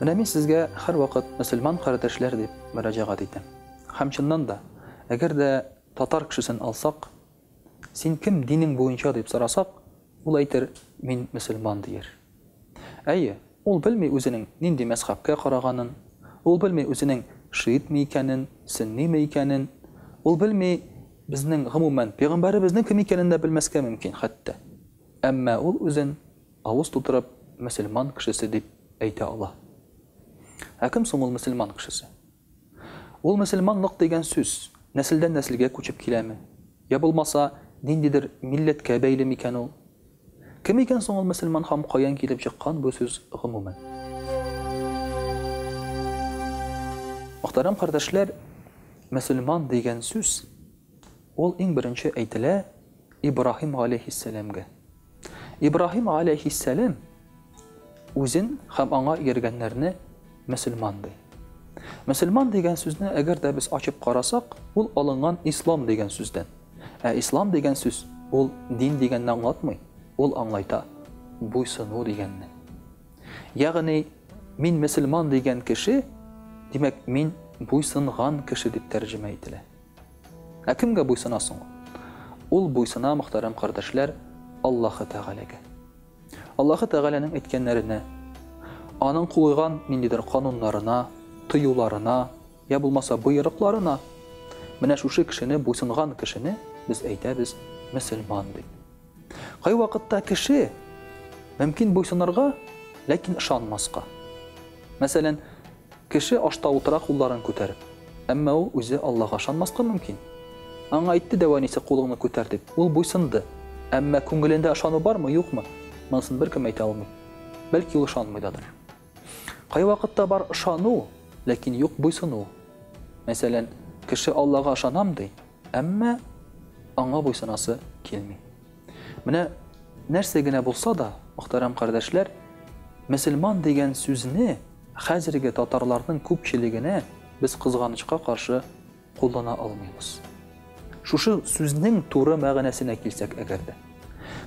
Менә мин сезгә һәрвакыт мөселман кардәшләр дип мөрәҗәгать итәм. Һәм чыннан да, әгәр дә татар кешесен алсак, Син кем динең буенча дип сорасак, ул әйтер, мин мөселман дияр. Әйе, ул белми үзенең нинди мәзхәбкә караганын, ул белми үзенең шиитме икәнен, сөнниме икәнен, ул белми безнең, гомумән, пәйгамбәребезнең кем икәнен дә белмәскә мөмкин хәтта. Әмма ул үзен. Авыз тутырып, мөселман кешесе дип әйтә ала. Ә кем соң ул мөселман кешесе? Ул мөселманлык дигән сүз нәселдән нәселгә күчеп киләме? Йә булмаса, ниндидер милләткә бәйле микән ул? Кем икән соң ул мөселман һам каян килеп чыккан бу сүз гомумән? Мөхтәрәм кардәшләр, мөселман дигән сүз, Ул иң беренче әйтелә Ибраһим галәйһиссәламгә. Ибраһим галәйһиссәлам үзен һәм аңа ияргәннәрне мөселман ди. Мөселман дигән сүзне әгәр дә без ачып карасак, ул алынган ислам дигән сүздән. Ә ислам дигән сүз ул дин дигәнне аңлатмый, ул аңлайта буйсыну дигәнне. Ягъни мин мөселман дигән кеше, димәк мин буйсынган кеше дип тәрҗемә ителә. Ә кемгә буйсына соң ул? Ул буйсына, мөхтәрәм кардәшләр, Аллаһы Тәгаләгә. Аллаһы Тәгаләнең әйткәннәренә, аның куйган ниндидер кануннарына, тыюларына, я булмаса боерыкларына. Менә шушы кешене буйсынган кешене без әйтәбез мөселман дип. Кайвакытта кеше мөмкин буйсынырга, ләкин ышанмаска. Мәсәлән, кеше ашта утыра кулларын күтәреп, әмма ул үзе Аллага ышанмаска мөмкин. Аңа әйтте дә әнисе кулыңны күтәр дип, ул буйсынды. Әмма күңелендә ышану бармы, юкмы, монысын беркем әйтә алмый. Бәлки ул ышанмый дадыр. Кайвакытта бар ышану, ләкин юк буйсыну. Мәсәлән, кеше Аллага ышанам ди, Әмма аңа буйсынасы килми. Менә нәрсә генә булса да, мөхтәрәм кардәшләр, мөселман дигән сүзне хәзерге татарларның күпчелегенә без кызганычка каршы куллана алмыйбыз. Шушы сүзнең туры мәгънәсенә килсәк әгәр дә.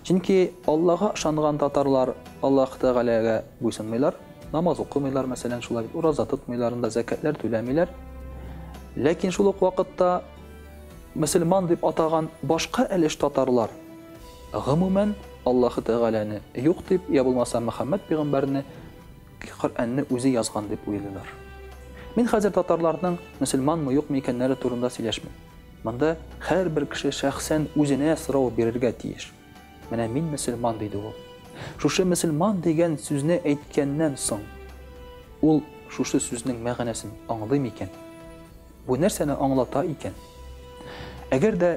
Чөнки Аллага ышанган татарлар Аллаһ Тәгаләгә буйсынмыйлар, намаз укымыйлар, мәсәлән, шулай бит, ураза тотмыйлар, анда зәкятләр түләмиләр. Ләкин шул ук вакытта мөселман дип атаган башка әлеш татарлар гомумән Аллаһ Тәгаләне юк дип, я булмаса Мөхәммәд пигамбәрне Коръәнне үзе язган дип уйлыйлар. Мин хәзер татарларның мөселманмы, юкмы икәннәре турында сөйләшмим. Монда һәрбер кеше шәхсән үзенә сорау бирергә тиеш. Менә мин мөселман, диде ул. Шушы мөселман дигән сүзне әйткәннән соң, ул шушы сүзнең мәгънәсен аңлый микән? Бу нәрсәне аңлата икән? Әгәр дә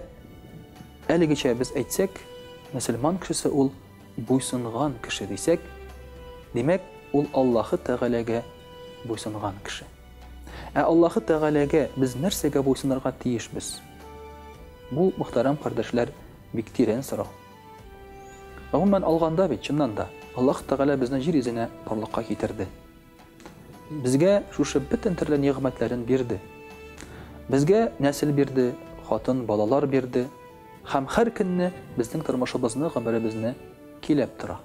әлегечә без әйтсәк, мөселман кешесе ул буйсынган кеше дисәк, димәк, ул Аллаһы Тәгаләгә буйсынган кеше. Ә Аллаһы Тәгаләгә без нәрсәгә буйсынырга тиешбез? Бу, мөхтәрәм кардәшләр, бик тирән сорау. Гомумән алганда бит, чыннан да, Аллаһ Тәгалә безне җир йөзенә барлыкка китерде. Безгә шушы бөтен төрле нигъмәтләрен бирде. Безгә нәсел бирде, хатын, балалар бирде һәм һәр көнне безнең тормышыбызны, гомеребезне көйләп тора.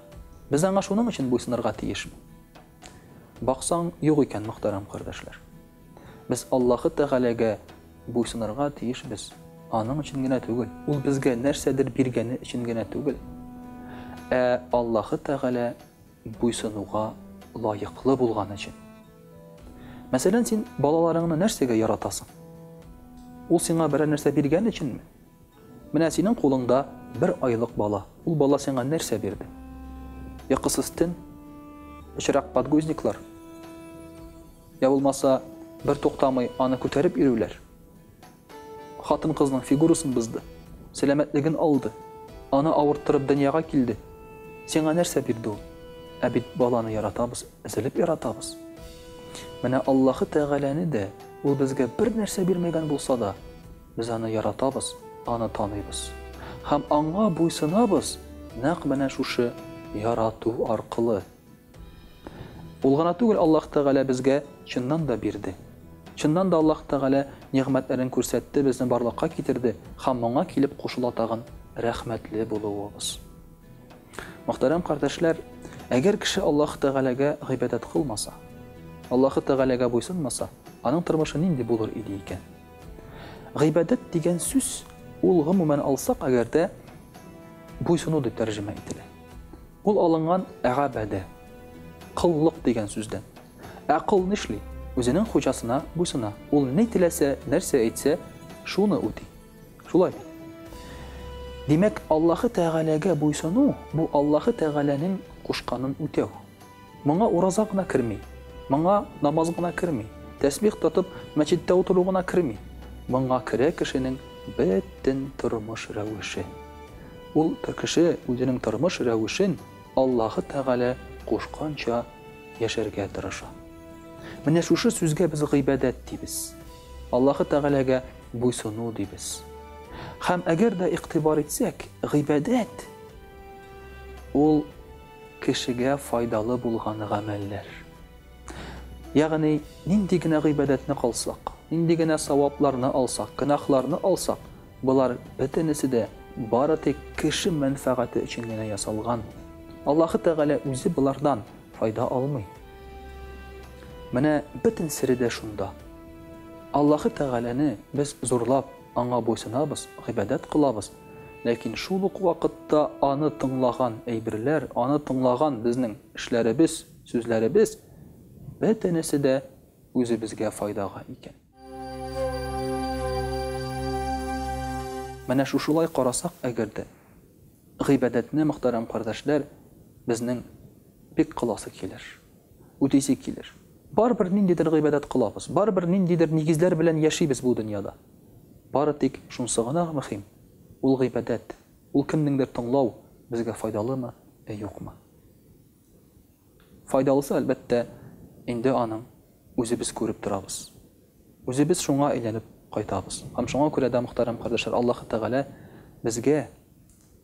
Без аңа шуның өчен буйсынырга тиешме? Баксаң, юк икән, мөхтәрәм кардәшләр. Без Аллаһы Тәгаләгә буйсынырга тиешбез, Аның өчен генә түгел, Ул безгә нәрсәдер биргәне өчен генә түгел, ә Аллаһы Тәгалә буйсынуга лаеклы булган өчен. Мәсәлән, син балаларыңны нәрсәгә яратасың? Ул сиңа берәр нәрсә биргән өченме? Менә синең кулыңда бер айлык бала. Ул бала сиңа нәрсә бирде? Йокысыз төн? Пычрак подгузниклар? Йә булмаса, бертуктамый аны күтәреп йөрүләр? Хатын-кызның фигурасын бозды, сәламәтлеген алды, аны авырттырып дөньяга килде. Сиңа нәрсә бирде ул? Ә бит баланы яратабыз, өзелеп яратабыз. Менә Аллаһы Тәгаләне дә Ул безгә бер нәрсә бирмәгән булса да, Без аны яратабыз, аны таныйбыз. Һәм аңа буйсынабыз нәкъ менә шушы ярату аркылы. Ул гына түгел, Аллаһ Тәгалә безгә чыннан да бирде. Чыннан да Аллаһ Тәгалә нигъмәтләрен күрсәтте, безне барлыкка китерде, һәм моңа килеп кушыла тагын рәхмәтле булуыбыз. Мөхтәрәм кардәшләр, әгәр кеше Аллаһ Тәгаләгә гыйбадәт кылмаса, Аллаһ Тәгаләгә буйсынмаса, аның тормышы нинди булыр иде икән? Гыйбадәт дигән сүз, ул гомумән алсак әгәр дә, буйсыну дип тәрҗемә ителә. Ул алынган әгабәдә, кыллык дигән сүздән. Ә кыл нишли? Үзенең хуҗасына буйсына. Ул ни теләсә, нәрсә әйтсә, шуны үти. Шулай бит. Димәк, Аллаһы Тәгаләгә буйсыну, бу Аллаһы Тәгаләнең кушканын үтәү. Моңа ураза гына керми. Моңа намаз гына керми. Тәсбих тотып, мәчеттә утыру гына керми. Моңа керә кешенең бөтен тормыш рәвеше. Ул кеше үзенең тормыш рәвешен Аллаһы Тәгалә кушканча яшәргә тырыша. Менә шушы сүзгә без гыйбадәт дибез. Аллаһы Тәгаләгә буйсыну дибез. Һәм әгәр дә игътибар итсәк, гыйбадәт, ул, Кешегә файдалы булган гамәлләр. Ягъни, нинди генә гыйбадәтне кылсак, нинди генә савапларны алсак, гөнаһларны алсак, болар бөтенесе дә бары тик кеше мәнфәгате өчен генә ясалган. Аллаһы Тәгалә үзе болардан файда алмый. Менә бөтен сере дә шунда. Аллаһы Тәгаләне без зурлап. Аңа буйсынабыз, гыйбадәт кылабыз, ләкин шул ук вакытта аны тыңлаган әйберләр, аны тыңлаган безнең эшләребез, сүзләребез, бөтенесе дә үзебезгә файдага икән. Менә шушылай карасак, әгәр дә гыйбадәтне, мөхтәрәм кардәшләр, безнең бик кыласы килер. Үтисе килер. Барыбер ниндидер гыйбадәт кылабыз, барыбер ниндидер нигезләр белән яшибез бу дөньяда. Бары тик шунсы гына мөһим, ул гыйбадәт, ул кемнеңдер тыңлау безгә файдалымы, ә юкмы? Файдалысы, әлбәттә, инде аның үзебез күреп торабыз. Үзебез шуңа әйләнеп кайтабыз. Һәм шуңа күрә дә, мөхтәрәм кардәшләр, Аллаһы Тәгалә безгә